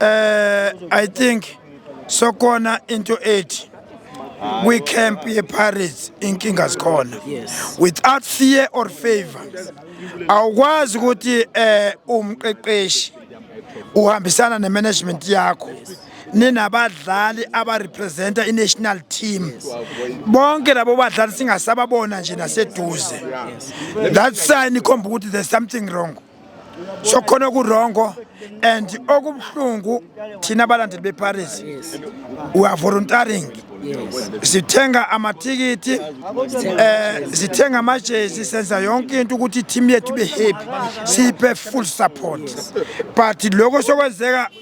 Eh I think sokona into ethi we camp ye pirates inkinga zikhona without fear or favor awukwazi ukuthi eh umqeqeshi uhambisana ne management yakho ninabadlali abarepresenta i-national team bonke labo badlali singasababona nje naseduze that sign ikhomba ukuthi there's something wrong so khona okurongo and okubuhlungu thina abalandeli beparis we are voluntaring sithenga amathikithi eh sithenga amajezi senza yonke into ukuthi team yethu be happy siphe full support but lokho sokwenzeka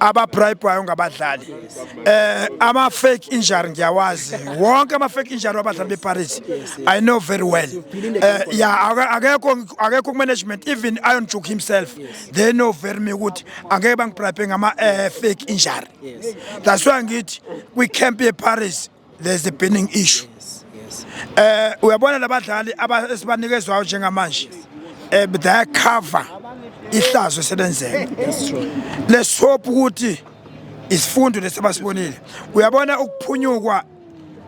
ababribhayo ngabadlali eh ama fake injury ngiyawazi wonke ama fake injury wabadlali beParis i know very well eh yeah akekho akekho management even Iron Juk himself they know very me ukuthi angeke bangibribe ngama eh, fake injury that's why ngithi kwi camp yeParis there's a burning issue eh uyabona labadlali abasibanikezwayo njengamanje eh they cover ihlazo selenzeka let's hope ukuthi isifundo lesibasibonile uyabona ukuphunyukwa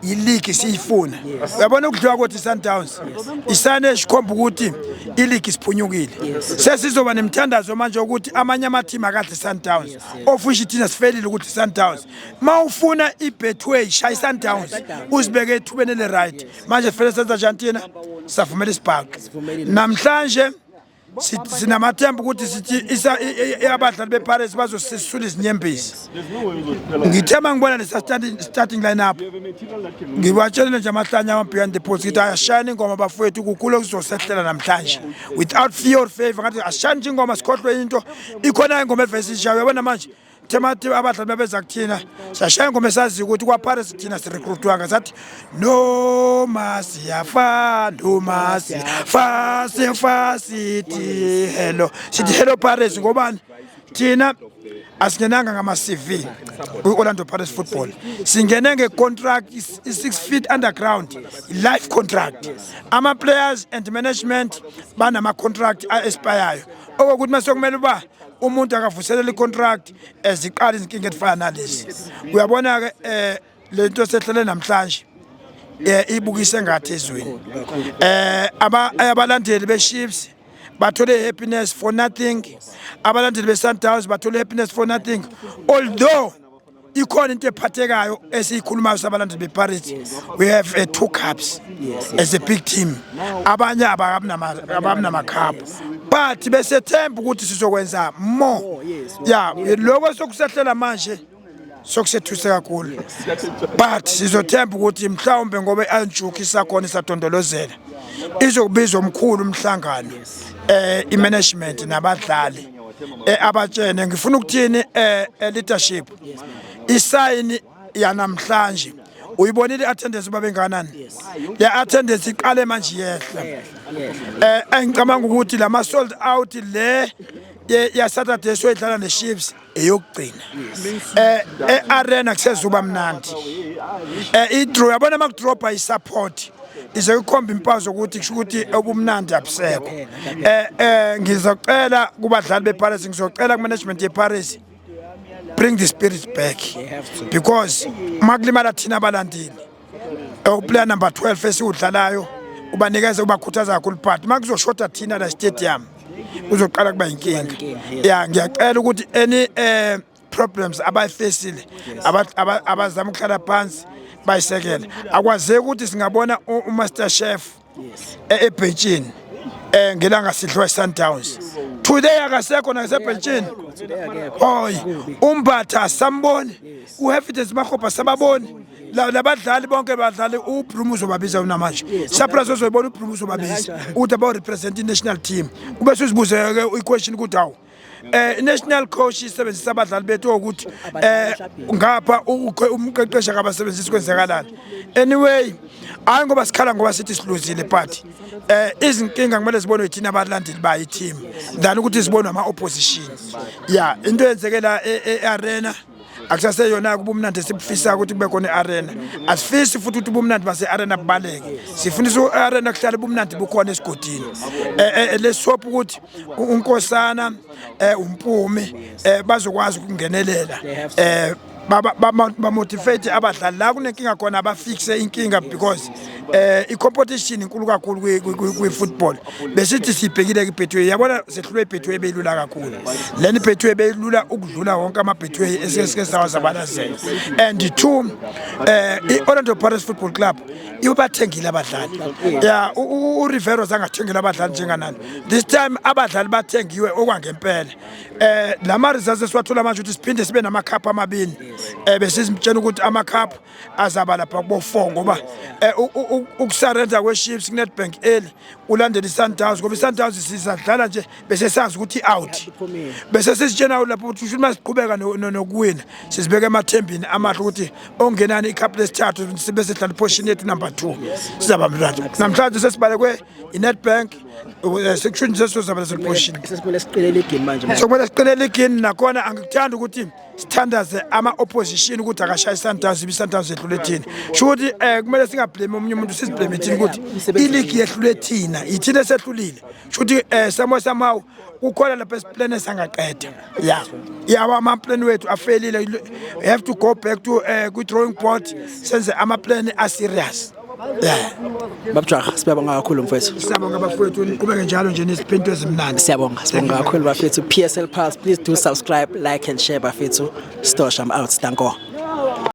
iligi siyifuna uyabona ukudliwa kothi Sundowns isane esikhomba ukuthi iligi siphunyukile sesizoba nemthandazo manje ukuthi amanye amathimi akadli Sundowns ofusha ithina sifelile ukuthi Sundowns ma ufuna ibetway shaya isundowns uzibeke ethubeni eli-right manje sifele senza njani thina savumela isibhaqi namhlanje sinamathemba ukuthi sithi abadlali beparis bazosisula izinyembezi ngithe ma ngibona lesa-starting line up ngibatshelile nje amahlanye ama-beyond the post ngithi ayashayana ingoma bafowethu kukhulu okuzosehlela namhlanje without fear or favor ngathi ashayana nje ingoma sikhohlwe into ikhona ingoma evesishayo yabona manje kuthe mathi abadlali babeza kuthina siyashaya ingoma esaziyo ukuthi kwaphare sithina sirekrutwanga sathi noma siyafa noma siyafa sifa sithi hello sithi hello pares ngobani thina asingenanga ngama-cv kwi-orlando pares football singene ngecontract i-six feet underground life contract ama-players and management banama-contract a-espayayo okokuthi uma sekumele uba umuntu akavuselela icontract eziqala izinkinga ezifana nalezi uyabona-ke um le nto sehlele namhlanje um ibukise ngathi ezweni um abalandeli be-ships bathole happiness for nothing abalandeli be-sundowns bathole happiness for nothing although ikhona into ephathekayo esiyikhulumayo sabalandeli beparity we have a two cups as a big team abanye ababinamakhaphu but besethemba ukuthi sizokwenza more oh, ya lokho sokusehlela manje sokusethuse kakhulu but sizothemba ukuthi mhlawumbe ngoba i-anjuki isakhona isadondolozela izokubiza omkhulu umhlangano um eh, i-management nabadlali eh, abatshene ngifuna ukuthini eh, eh leadership isayini yanamhlanje uyibonile i-attendance uba bengakanani le attendance iqale manje yehla eh engicabanga ukuthi lama sold out le ya Saturday soyidlala ne Chiefs eyokugcina eh e-arena kusezuba mnandi eh i-draw yabona ama-draw by support ize ikhomba impazo ukuthi kusho ukuthi obumnandi abusekho eh eh ngizocela kubadlali beParis ngizocela kumanagement yeParis bring the spirit back because makulimala thina abalandeli uplayer number 12 esiwudlalayo ubanikeza ubakhuthaza kakhulu but makuzoshoda thina la stadium uzoqala kuba inkinga ya ngiyacela ukuthi any eh problems abayifesile abazama ukuhlala phansi bayisekele akwazeki ukuthi singabona umaster chef e-, ebhentshini eh ngelanga sidliwa iSundowns today akasekho nasebhentshini hoy umbatha samboni uHefithes Mahopa sababoni labadlali bonke badlali ubrum uzobabiza unamanje surprise ozoyibona ubrum uzobabiza uthi abawu-represent i-national team kube suzibuze-ke i-question ukuthi awu eh national coach isebenzisa abadlali bethu ukuthi eh ngapha umqeqesha kabasebenzisi kwenzakalana anyway hayi ngoba sikhala ngoba sithi siluzile party eh izinkinga kumele zibonwe yithina abalandeli ba i team than ukuthi zibonwe ama opposition yeah into yenzekela e-arena e-, akusaseyona-ke ubumnandi esibufisa ukuthi kube khona i-arena asifisi futhi ukuthi ubumnandi base-arena bubaleke sifundisa u-arena kuhlala ubumnandi bukhona esigodini eh, eh, eh, lesihopha ukuthi unkosana um umpumi um bazokwazi ukungenelela um bamotivate abadlali la kunenkinga khona abafikise inkinga because eh i-competition inkulu kakhulu kwi-football besithi sibhekile kwi-betway yabona sehlulwe i-betway ebeyilula kakhulu lena i-betway beyilula ukudlula wonke ama-betway esesike sawazabalazela and two eh i-orlando paris football club ibathengile abadlali ya urivero zangathengile abadlali njenganani this time abadlali bathengiwe okwangempela eh lama results esiwathola manje ukuthi siphinde sibe namakhaphu amabini eh besizimtshela ukuthi amakhaphu azaba lapha kubo-four ngoba eh, ukusarenda kwe-ships kunedbank eli ulandela i-sundowns ngoba i-sundowns sisadlala nje bese sazi ukuthi i-out bese sisitshena lapho ukuthi usho uma siqhubeka nokuwina sizibeka emathembini amahle ukuthi ongenani ikhaphu lesithathu sibe sidlala iphoshin yethu number two sizaba mnandi namhlanje sesibalekwe i-netbank eh, sekusho nje sesizobala sephoshin sokumele siqinele igini manje sokumele siqinele igini nakhona angikuthandi ukuthi sithandaze ama-opposition ukuthi akashaye isundowns ibe isundowns yehlule thina sho ukuthi um eh, kumele singablemi omunye umuntu sizibleme thina ukuthi iligi yehlule thina yithina esehlulile sho ukuthi um eh, samo samawu kukhona lapho esiplane sangaqeda ya yawa amaplan wethu afelile have to go back to um eh, kwi-drawing board senze amaplan aserious babjaha siyabonga kakhulu mfowethu siyabonga bafowethu niqhubeke njalo nje neziphinto ezimnandi siyabonga siyabonga kakhulu bafethu PSL Pulse please do subscribe like and share bafethu Stosh I'm out danko